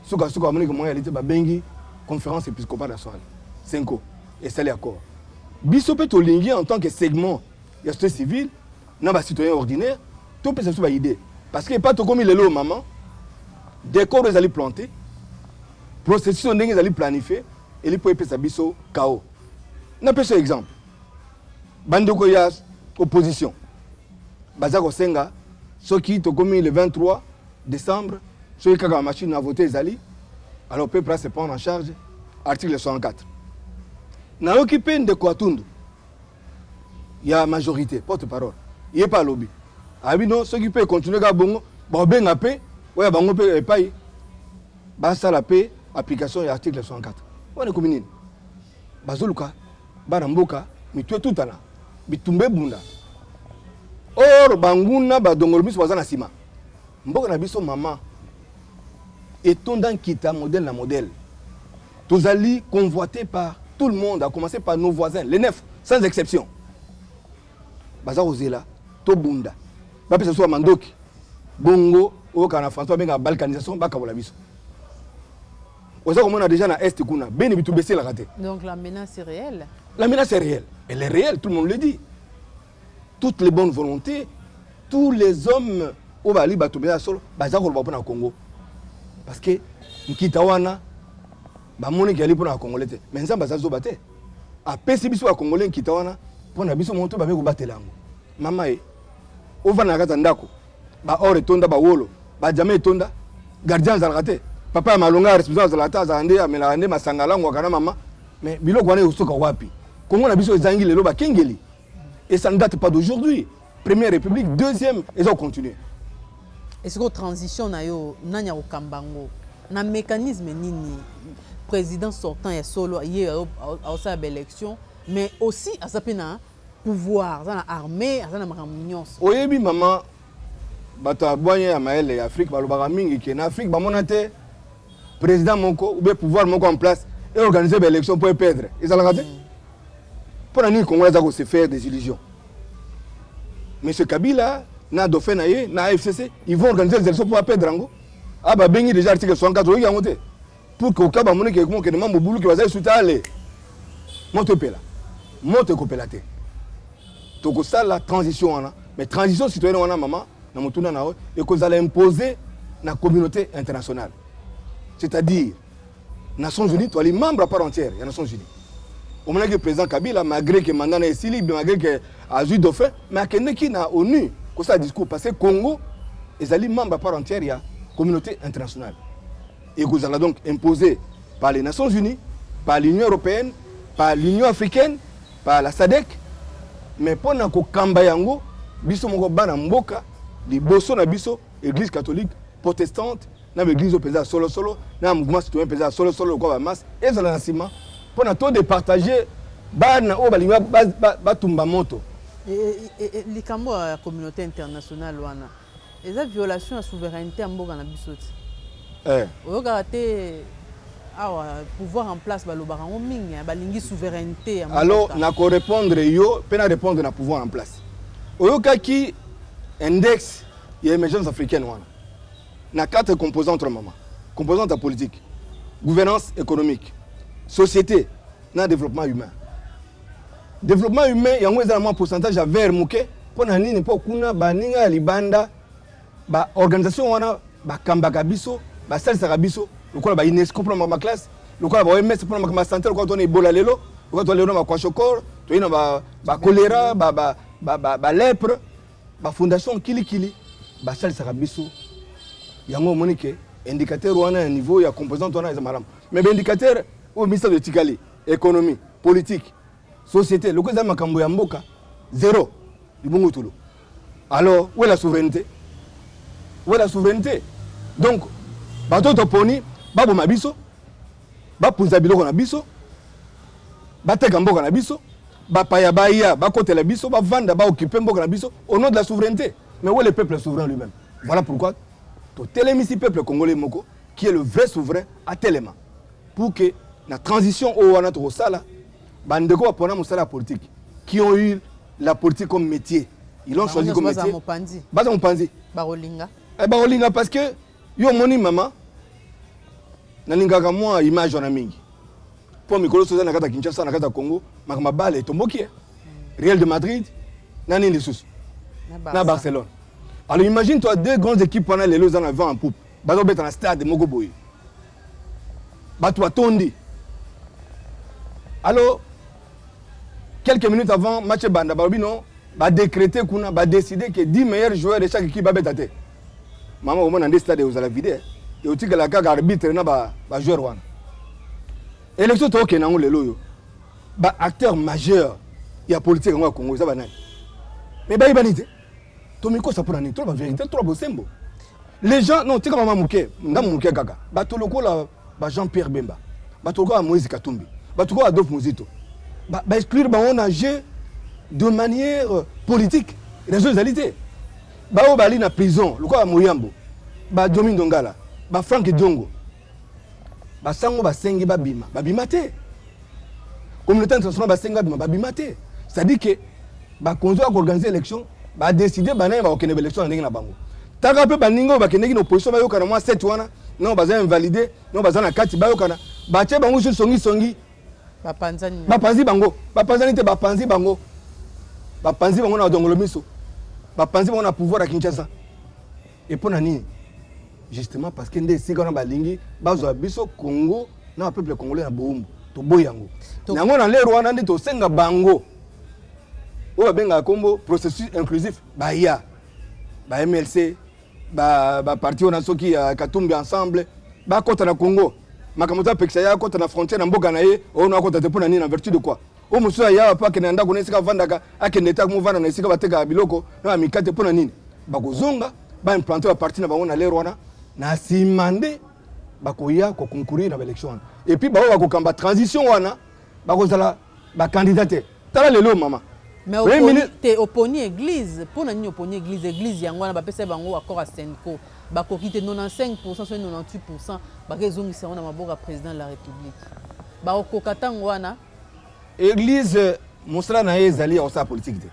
[SPEAKER 2] Suka suka bamoniki moyen ya lite babengi conférence épiscopale ya Swahili. Senko esali accord. biso mpe tolingi en tant que segment ya société civile na ba citoyen ordinaire topesa biso baidée parce que epa tokomi lelo mama decor ezali plante processus oyo ndenge ezali planifie eli mpo epesa biso kao napesa yo exemple bandeko ya opposition baza kosenga soki tokomi le 23 Decembre soki kaka machine na vote ezali alors peuple a se prendre en charge article 64 nayoki mpe ndeko atundu ya majorité porte parole ye mpe alobi abi no soki mpe econtinue kaka bongo baobenga mpe oyo bango mpe epai basala mpe application ya article 64 wana ekomi nini bazoluka bana mboka mitu etutana bitumba ebunda or banguna badongolo miso baza na nsima Mboka na biso mama etonda nkita modèle na modèle. Tozali convoité par tout le monde, à commencer par nos voisins, les neuf, sans exception. Baza kozela tobunda. Bapesa biso mandoki. Bongo oyoka na François benga balkanisation bakabola biso. Oza komona déjà na est kuna, beni bitu bese la raté. Donc la menace est
[SPEAKER 1] réelle. La menace est réelle.
[SPEAKER 2] Elle est réelle, tout le monde le dit. toutes les bonnes volontés tous les hommes oyo bazali bato mpenza ya solo baza koloba mpo na congo parce que nkita wana bamoniki yali mpo na bakongole te mai nzambe aza zoba te apesi biso bakongole nkita wana mpo na biso moto babe kobatela yango mama ye ovanda na kati ya ndako baor etonda bawolo bajama etonda gardien azalaka te papa ya malonga ya responsable azalaka te azalaka nde amelaka nde masanga alangwaka na mama mai biloko wana ekosoka wapi kongo na biso ezangi lelo bakengeli Et ça ne date pas d'aujourd'hui. Première République, deuxième, et ça continue. Est-ce
[SPEAKER 1] que transition na yo nani au kambango na mécanisme nini président sortant ya solo ye aosala ba élection mais aussi aza mpe na pouvoir aza na armée aza na makambo nyonso oyebi mama
[SPEAKER 2] Bato ya bwanya ya mayele ya Afrique balobaka mingi ke na Afrique bamona te président moko ou bien pouvoir moko en place et organiser ba élection pour perdre ezalaka te mpo na nini congolais aza ko se faire des illusions monsieur kabila na dauphin na ye na afcc ils vont organiser les élections mpo aperdre yango a ah, babengi déjà article 64 oyoki yango te pour que okaba moni ke mokende mambo buluki baza esu te ale moto epela moto ekopela te tokosala transition wana mais transition citoyenne wana mama na motuna na yo ekozala impose na communauté internationale c'est-à-dire nations unies toali membre à part entière ya nations unies omonaki président kabila malgré ke manda na esili malgré ke azwi dauphin mais akendeki na onu kosala discours parce que congo ezali membre à part entière ya communauté internationale ekozala donc impose par les nations unies par l'union européenne par l'union africaine par la sadec mais mpo na kokamba yango biso moko bana mboka liboso na biso église catholique protestante na baeglise oyo mpenza ya solosolo na mouvement citoyen mpenza ya solosolo lokola bamasse ezala na nsima mpo na to departage bana oyo balingi batumba moto
[SPEAKER 1] likambo ya communauté internationale wana Eza violation ya souverainete ya mboka na biso ti. Eh. Oyokaka te awa pouvoir en place balobaka yango mingi hein, balingi souverainete ya mboka. Alors na ko répondre
[SPEAKER 2] yo pe na répondre na pouvoir en place. Oyokaki index ya émergence africaine wana na quatre composantes mama composante ya politique gouvernance économique société na développement humain Developpement humain yango eza na mwa pourcentage ya vert moke mpo na nini? Mpo kuna baninga ya libanda ba organisation wana bakambaka biso basalisaka biso lokola ba UNESCO mpo na makambo ya classe lokola ba OMS mpo na makambo ya santé lokola tona ebola lelo lokola tona lelo na bakwashokor toyei na bakolera balepre bafondation kilikili basalisaka biso yango omoni ke indicateur wana ya niveau ya composante wana eza malamu mais baindicateur oyo misato etikali economie politique societe lokola eza makambo ya mboka zero libungutulu alors où est la souveraineté où est la souveraineté donc bato toponi baboma biso bapunza biloko na biso bateka mboka na biso bapaya baya bakotela biso bavanda baokipe mboka na biso au nom de la souveraineté mais où est le peuple souverain lui-même voilà pourquoi totelemisi peuple congolais moko qui est le vrai souverain atelema pour que na transition oyo wana tokosala bandeko bapona mosala ya politique qui ont eu la politique comme métier ils l'ont choisi comme métier baza mopanzi bakolinga eh, bakolinga parce que yo omoni mama nalingaka mwa image wana mingi mpo mikolo soza na kati ya kinshasa na kati ya congo makambo abale etomboki ye real de madrid na nini lisusu na barcelone alors imagine toi deux grandes équipes wana lelo eza na vent en poupe bazo beta na stade moko boye bato batondi alo quelques minutes avant match ebanda balobi no badécréte kuna badécide ke 10 meilleurs joueurs de chaque équipe babeta te mama omona nde stade ekozala vide eotikala kaka arbitre na bajoueur wana élection tookende yango lelo oyo baacteur majeur ya politique yango ya congo eza banani me bayebani te tomikosa mpo na nini toloba verité toloba bosembo les gens non tika mama moke ndambo moke kaka bato lokola ba jean pierre bemba bato lokola moïse katumbi bato lokola adolphe mozito baexclure ba bango na jeu de manière euh, politique raison ezali te baoyo bali na prison lokola moyambo bajomi ndongala bafrank diongo basango basengi babima babima te communauté internationale basengi babima babima te c'est-à-dire que bakonzi ya koorganize élection badeside banani bakokende baélection na ndenge na bango taka mpe baninga oyo bakendeki na opposition bayokana mwa sete wana nao baza invalide nao baza na kati bayokana batye bango sur songisongi bapanzi bango bapanzani te bapanzi bango bapanzi bango na dongolo miso bapanzi bango na pouvoir ya kinshasa Et mpo na nini justement parce que nde esika wana balingi bazwa biso congo na bapeuple congolais na boumbu toboyi yango yango na lere wana nde tosenga bango oyo babengaka nkombo processus inclusif baya ba mlc baparti wana soki ya katumbi ensemble bakɔta na congo makambo eza pekisa ye akɔta na frontière na mboka na ye oyo na akɔta te mpo na nini na vertu de quoi oyo mosusu aya awa mpo akende na ndako na esika avandaka akende te akomofanda na esika batekaka biloko na bamikate mpo na nini bakozonga baimplante baparti na bango na lere wana na nsima nde bakoya koconcourir na baélection wana epuis baoyo bakokamba transition wana bakozala bakandida te tala lelo mama mais oponi,
[SPEAKER 1] te oponi église mpo na nini oponi église église yango wana bapesaki bango accord ya senco bakoki te 95 pourcent soki 98 pourcent bakezongisa yango na maboko ya président de la république bakokoka ntango wana Eglise
[SPEAKER 2] mosala na ye ezali ya kosala politiki te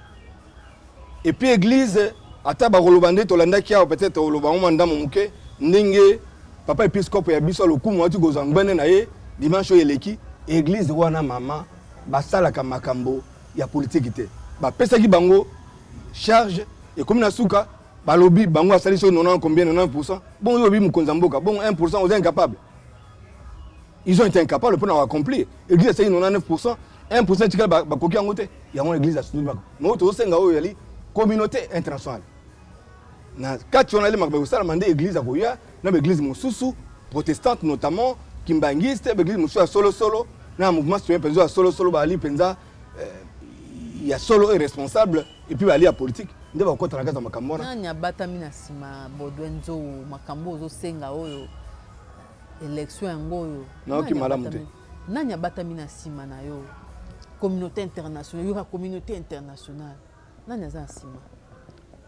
[SPEAKER 2] epuis eglise ata bakoloba nde tolandaki awa peut-être oloba yango mwa ndambo moke ndenge papa episkope ya biso ya lokumu auti kozwa ngbende na ye dimanche oyo eleki eglise wana mama basalaka makambo ya politiki te bapesaki bango charge ekomi na suka balobi bango asali soki 90 combien 90 pourcent bongo oyo olobi mokonzi ya mboka bongo 1 pourcent oza incapable ils ont été incapables pona ko accomplir église aseki 99% 1% etikali bakoki yango te yango église asutuli bako mais tozosenga oyo yali communauté internationale na kati wana elemaka bakosalama nde église akoya na baeglise mosusu protestante notamment kimbanguiste baeglise mosusu ya solosolo na mouvement citoyen mpenza ya solosolo baali mpenza eh, ya solo oyo responsable epuis baali ya politique nde bakokota na kati ya makambo wana nani abatami na nsima
[SPEAKER 1] baudouin nzou makambo ozosenga oyo election yango oyo nayoki malamu te
[SPEAKER 2] nani abatami na
[SPEAKER 1] nsima na yo communauté internationale yoka communauté internationale nani aza na nsima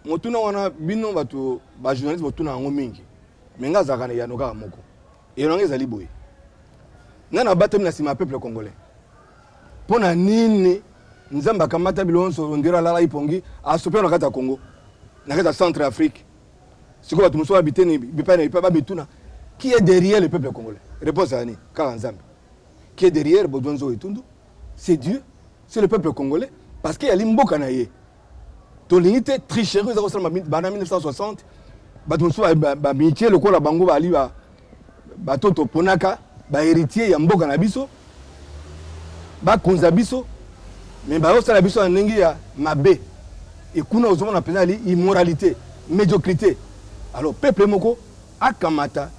[SPEAKER 1] motuna
[SPEAKER 2] wana bino bato bajournaliste botuna yango mingi me ngai azalaka na eyano kaka moko eyano yango ezali boye nani abatami na nsima ya peuple congolais mpo na nini nzambe akamata biloko nyonso ondiro alalaki mpongi asopi na kati ya congo na kati ya centre afrique sikoyo bato mosusu wana biteni bipai na bipai bamituna qui est derrière le peuple congolais réponse ya nini kaka nzambe qui est derrière bozwa nzogo etundu c'est dieu c'est le peuple congolais parce que yali mboka na ye tolingi te tricherie eza kosalama bana 1960 bato mosusu bamitie lokola bango bali Bato oyo toponaka ba heritier ya mboka na biso bakonza biso me bayosala biso na ndenge ya mabe ekuna ozomona mpenza ali immoralité médiocrité alors peuple moko akamata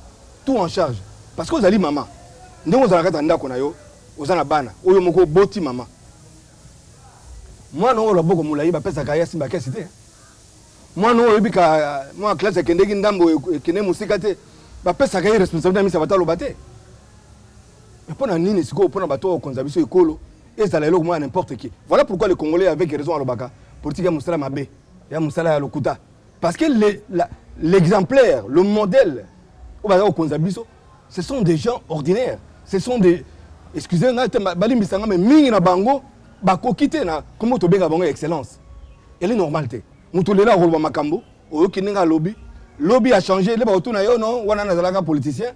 [SPEAKER 2] tout en charge parce que ozali mama ndenge ozala kati ya ndako na yo oza na bana oyo moko oboti mama mwana oyo loboko molai bapesaka ye asimba kesi te mwana oyo oyebi ka mwana classe akendeki ndambo ekende mosika te bapesaka ye responsabilité ya misa bataloba te mais mpo na nini sikoyo mpo na bato oyo okonza biso ekolo ezala eloko moko ya n'importe qui voilà pourquoi le congolais avec raison alobaka politique ya mosala mabe ya mosala ya lokuta parce que l'exemplaire le, le modèle oyo baza kokonza biso ce sont des gens ordinaires ce sont des excusez ngai te balimbisa ngai mais mingi na bango bakoki te na nkombo tobenga bango excellence ele normal te moto lelo akoloba makambo oyoki ndenge alobi lobi achange le bakotuna yo no wana nazalaka politicien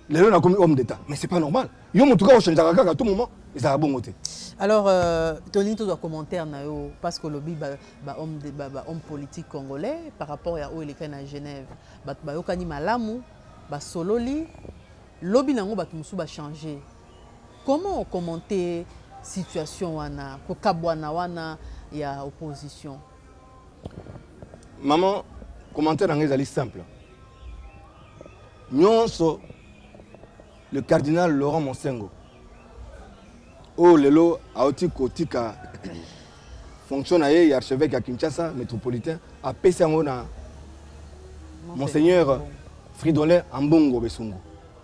[SPEAKER 2] lelo nakomi homme d'état mais c'est pas normal yo motu kaka ochangeaka kaka tout moment ezalaka bongo te alors
[SPEAKER 1] euh, tolingi tozwa commentaire na yo parce que olobi bahomme ba, ba, ba politique congolais par rapport ya oyo elekani na genève Bato bayokani malamu, basololi, lobi na yango bato mosusu ba changer. Comment o commenter situation wana, kokabwana wana ya opposition?
[SPEAKER 2] Maman, commentaire na ngai ezali simple. Nionso. Le cardinal Laurent Monsengo oyo oh, lelo auti kotika fonction na ye ya archevêque ya Kinshasa métropolitain apesi yango na Monseigneur Fridolin Ambongo Besungu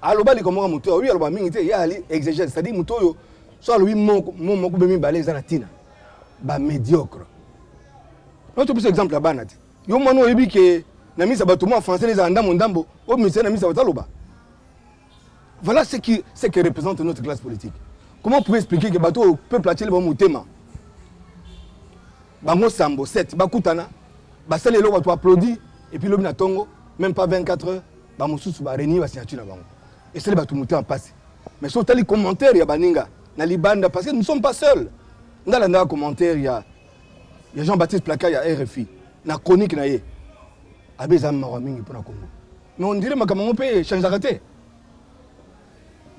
[SPEAKER 2] aloba likambo ya motu oyo aloba mingi te ye ali exegèse c'est-à-dire motu oyo so alobi mo moko mpe mibale eza na ntina bamédiocre noto biso exemple ya bana te Yo mwana oyebi ke na misa bato mwa français ezala ndambo ndambo oyo ministère na misa bazaloba voilà ce qui ce que représente notre classe politique comment pouvez expliquer que bato oyo peuple atieli bango motema bango sambo 7 bakutana basali eloko bato applaudi epuis lobi na ntongo même pas 24 heures bamosusu barenie basignature na bango esali bato motema mpasi mais so otali commentaire ya baninga na libanda parce que nous sommes pas seuls nga landaka commentaire ya ya jean baptiste placard ya rfi na chronique na ye abe eza mawa mingi mpo na congo mais on dirait makambo yango mpe echangeaka te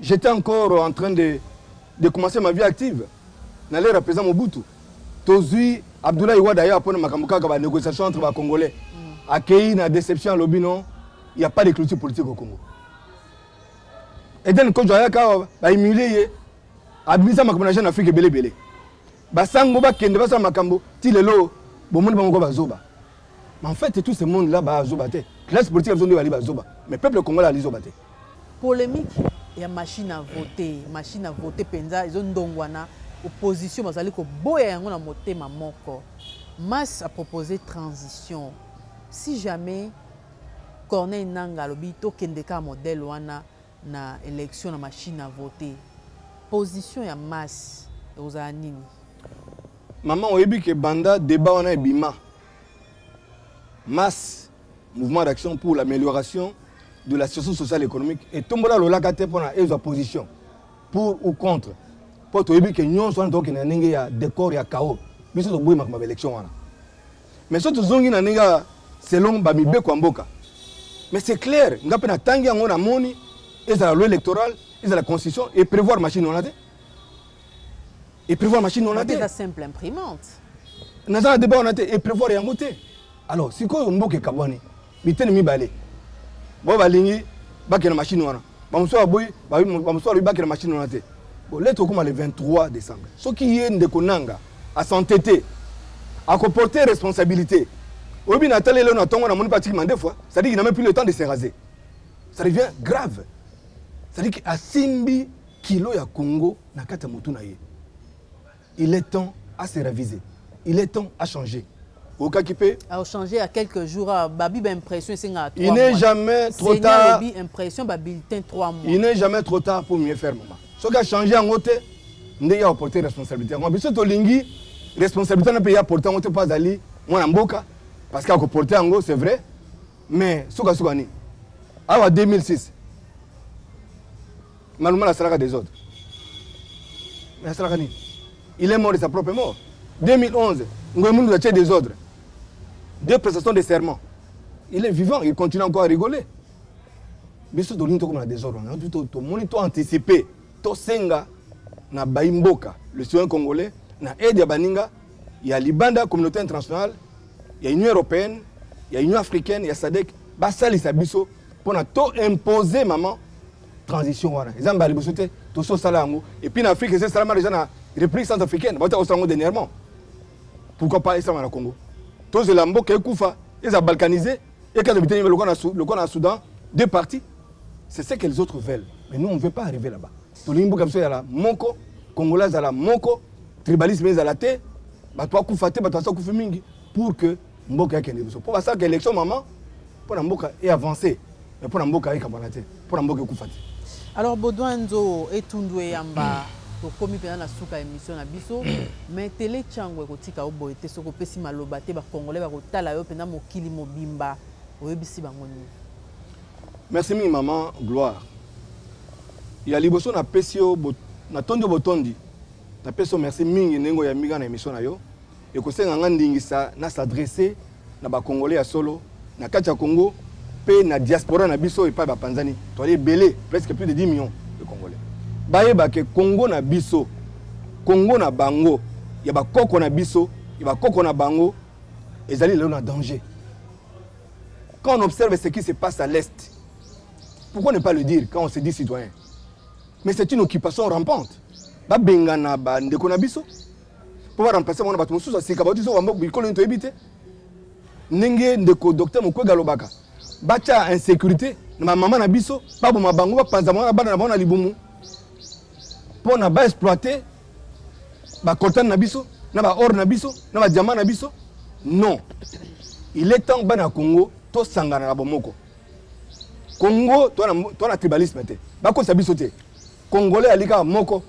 [SPEAKER 2] j'étais encore en train de, de commencer ma vie active na lera président mobutu tozwi abdoulaye wada ye apona makambo kaka banégociation entre bacongolais mm. akei na déception alobi non ya pas de clôture politique au congo eden kojo ayaka bahumilie ye abimisa makambo na jeune afrique ebele ebele Ba sango ba kende ba sala makambo ti lelo bo moni bango ko ba zoba. Mais en fait tout ce monde là ba zoba te. Classe politique biso nde ba li ba zoba. Mais peuple congolais ali zoba te. Polemique
[SPEAKER 1] ya machine à voter, machine à voter penza ezo ndongwana opposition bazali ko boya yango na motema moko. Mas a proposé transition. Si jamais Corneille Nanga alobi tokende ka modèle wana na election na machine à voter position ya masse ekozala nini
[SPEAKER 2] maman oyebi ke banda debat wana ebima masse mouvement d'action pour l'amélioration de la situation sociale économique etombola lolaka te mpona ezwa position pour ou contre mpo toyebi ke nyonso wana tokokende na ndenge ya décor ya chaos biso toboyi makambo ya baélection wana Mais soki tozongi na ndenge ya selon ba mibeko ya mboka. Mais c'est clair, nga pe natangi yango namoni ezala loi électorale, ezala constitution et prévoir machine wana te. Et prévoir machine wana te. Eza simple imprimante.
[SPEAKER 1] Naza na
[SPEAKER 2] débat wana te et prévoir yango te. Alors sikoyo mboka ekabwani. biteni mibale bo balingi bakende na mashine wana bamosusu baboyi bamosusu balobi bakende na mashine wana te bo lete okoma le 23 décembre soki ye ndeko nanga asante te akoporte responsabilité oyebi na tali eleo na ntongo namoni mpe atiki mande fois cestadire qu'il n'a même plus le temps de se raser ça devient grave cestadire asimbi kilo ya congo na kati ya motu na ye Il est temps a se reviser. Il est temps a changer. okaki mpe achange ya quelques
[SPEAKER 1] jours ah, babi baimpression esengaka il n'est jamais
[SPEAKER 2] trop tard lobi impression babulletin
[SPEAKER 1] 3 mois il n'est jamais trop tard
[SPEAKER 2] pour mieux faire mama soki achange yango te ndenge ya koporte responsabilité yango biso tolingi responsabilité wana mpe ye aporte yango te mpo azali mwana mboka parce que akoporte yango c'est vrai mais sukasuka nini awa 2006 Maluma asalaka desordre. Mais asalaka nini? Il est mort de sa propre mort. 2011, Ngoy Mundu atie desordre. Deux prestations de serment. Il est vivant, il continue encore à rigoler. biso tolingi tokoma na desordre wana tomoni to anticipe tosenga na bayi mboka le citoyen congolais na aide ya baninga ya libanda communauté internationale ya union européenne ya union africaine ya sadek basalisa biso mpo na to impose maman transition wana eza mbala liboso te tosi osala yango epuis na afrique eza esalama deja na république centre africaine bauta kosala yango dernièrement pourquoi pas esalama na congo tozela mboka ekufa eza balkanise ekata biteni lokwa na soudan deux parties c'est ce que les autres veulent mais nous on ne veut pas arriver là-bas tolingi mboka biso ezala moko congolais azala moko tribalisme ezala te bato bakufa te bato basi bakufi mingi pour que mboka ekende liboso mpo basalaka élection mama mpo na mboka e avance mais mpo na mboka ekabwana te mpo na mboka ekufa te alors baudouin
[SPEAKER 1] nzo etundu eyamba hmm. tokomi mpenza na suka ya émission na biso hmm. mais tele cango ekotika yo boye te soki opesi maloba te bacongolais bakotala yo mpenza mokili mobimba oyebisi bango nini
[SPEAKER 2] merci mingi mama gloire ya liboso napesi yo natondi yo botondi napesi yo merci mingi ndenge oyambi nga na émission na yo Ekosenga nga ndingisa na s'adresser na ba congolais ya solo na kati ya Congo pe na diaspora na biso epai ba panzani toali ebele presque plus de 10 millions de congolais bayeba ke Congo na biso Congo na bango ya ba koko na biso ya ba koko na bango ezali lelo na danger quand on observe ce qui se passe à l'est pourquoi ne pas le dire quand on se dit citoyen mais c'est une occupation rampante babengana bandeko na biso mpo ba remplacer bango na bato mosusu ya sika bauti zoka mboka bikolo nini toyebi te ndenge ndeko docteur mokwege alobaka batya insécurité na bamama na biso baboma bango bapanza bango na bana na bango na libumu mpo na baexploite bacoltane na biso na baor na biso na badiamant na biso non il est temps bana ya congo tosangana na bomoko congo toa na tribalisme te bakotisa biso te Congolais ali kaka moko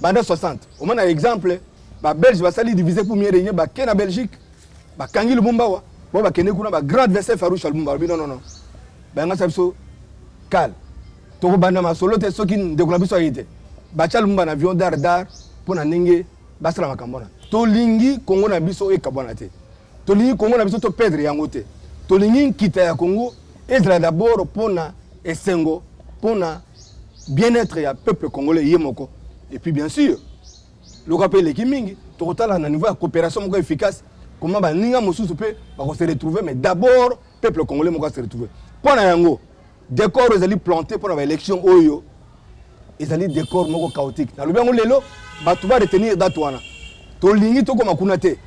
[SPEAKER 2] banda 60 omona exemple ba belge basali divise pour mieux régner bake na belgique bakangi lumumba wa bo bakende kuna ba grand adversaire farouche lumumba alobi non non non bayangasa biso kale tokobanda masolo te soki ndeko na biso aye te batya lumumba na avion dar dar mpo na ndenge basala makambo wana tolingi kongo na biso ekabwana te Tolingi Congo na biso to perdre yango te. Tolingi nkita ya Congo ezala d'abord pona esengo, pona bien-être ya peuple congolais ye moko. Et puis bien sûr, loka pe leki mingi, tokotala na niveau ya coopération moko efficace comment baninga mosusu pe bako se retrouver mais d'abord peuple congolais moko a se retrouver. Pona yango Decor ezali planter pona ba election oyo ezali decor moko chaotique. Nalobi yango lelo bato ba retenir date wana. Tolingi tokoma kuna te.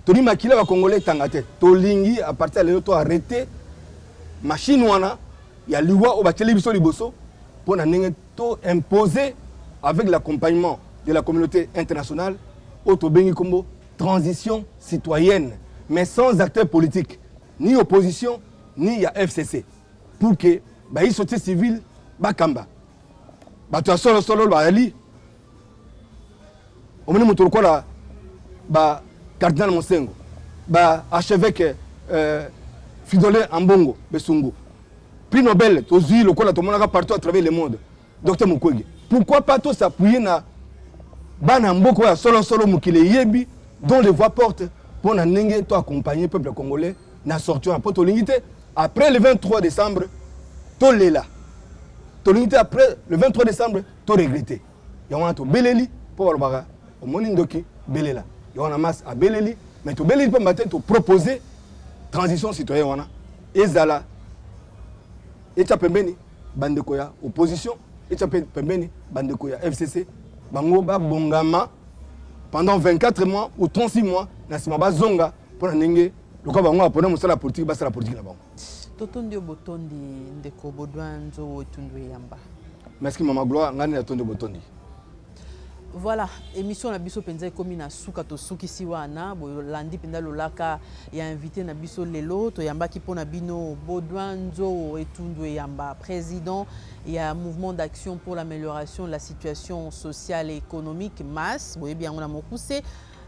[SPEAKER 2] Toni makila ba congolais tanga te. Tolingi à partir ya lelo to arrêter machine wana ya liwa oyo batieli biso liboso mpo na ndenge to imposer avec l'accompagnement de la communauté internationale oyo tobengi nkombo transition citoyenne mais sans acteur politique ni opposition ni ya fcc pour que bayi société civile bakamba bato ya solo solo bayali omoni moto lokola ba cardinal mosengo ba archevêque euh, fidole ambongo besungu prix nobel tozwi lokola tomonaka partout à travers le monde Docteur Mukwege, pourquoi pas tous appuyer na bana mboko ya solo solo mokili eyebi dont les voix porte mpo na ndenge to accompagner peuple congolais na sortie wana mpo tolingi te après le 23 décembre tolela tolingi te après le 23 décembre to regrette yango wana tobeleli mpo balobaka omoni ndoki belela yango wana mas abeleli mais tobeleli mpamba te topropose transition citoyen wana ezala etya pembeni bandeko ya opposition etya mpe pembeni bandeko ya fcc bango babongama pendant 24 mois ou 36 mois na nsima bazonga mpo na ndenge lokola bango bapona mosala ya politiki basala politiki na bango totondi yo
[SPEAKER 1] botondi ndeko bodwa nzowo etundu eyamba merci mama
[SPEAKER 2] gloire ngai nde natondi botondi
[SPEAKER 1] Voilà, émission na biso penza ekomi na suka to sukisi wana bolandi penza lolaka ya invité na biso lelo toyambaki mpo na bino Baudouin Nzoo Etundu Eyamba président ya mouvement d'action pour l'amélioration de la situation sociale et économique MAS boyebi yango na mokuse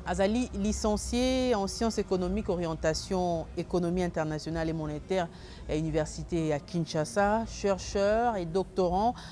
[SPEAKER 1] azali licencié en sciences économiques orientation économie internationale et monétaire ya université ya Kinshasa chercheur et doctorant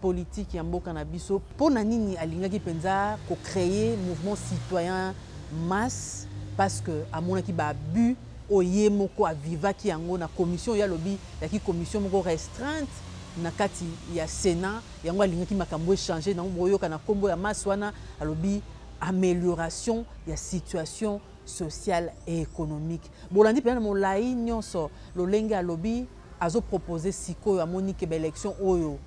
[SPEAKER 1] politique ya mboka na biso. Pona nini alingaki penza ko creer mouvement citoyen masse parce que amonaki ba abus oyo ye moko a vivaki yango na commission oyo ye alobi yaki commission moko restreinte na kati ya Senat yango alingaki makambo e changer nango bokoyoka na kombo ya masse wana alobi amelioration ya situation sociale et economique. Bolandi penza na molayi nionso lolenge alobi. Azo proposer sikoyo amoni que ba elections oyo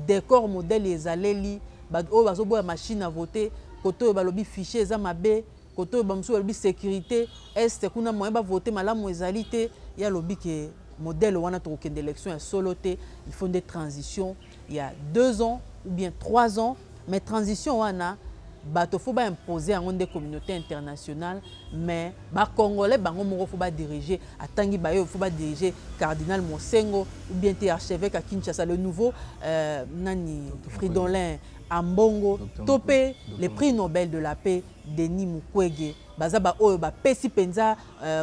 [SPEAKER 1] decor modèle ezaleli batu oyo bazo boya machine à voter kote oyo balobi fichier eza mabe kote oyo ba mosusu balobi securite Est kuna moyen ba voter malamu ezali te ye alobi que modèle wana tokokende elections ya solo te il faut nde transition ya deux ans ou bien trois ans mais transition wana bato faut ba imposer yango nde communaute internationale mais ba congolais bango moko faut ba diriger atangi bayo faut ba diriger cardinal Monsengo ou bien te archevêque à Kinshasa le nouveau euh, nani Fridolin Ambongo to pe le prix Nobel de la paix Denis Mukwege baza ba oyo bapesi mpenza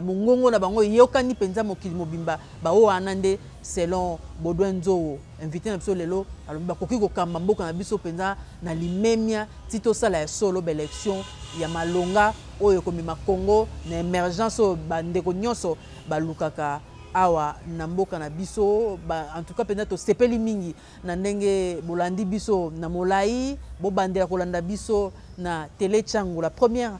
[SPEAKER 1] Mongongo na bango eyokani penza mokili mobimba. Baoyo wana nde selon Baudouin Nzou, invite na biso lelo, alobi bakoki kokamba mboka na biso penza na limemia ti tosala ya solo ba elections ya malonga oyo ekomema Congo na emergence oyo ba ndeko nionso balukaka awa na mboka na biso. En tout cas penza tosepeli mingi na ndenge bolandi biso na molayi. Bobandela kolanda biso na Tele Tshangu, la première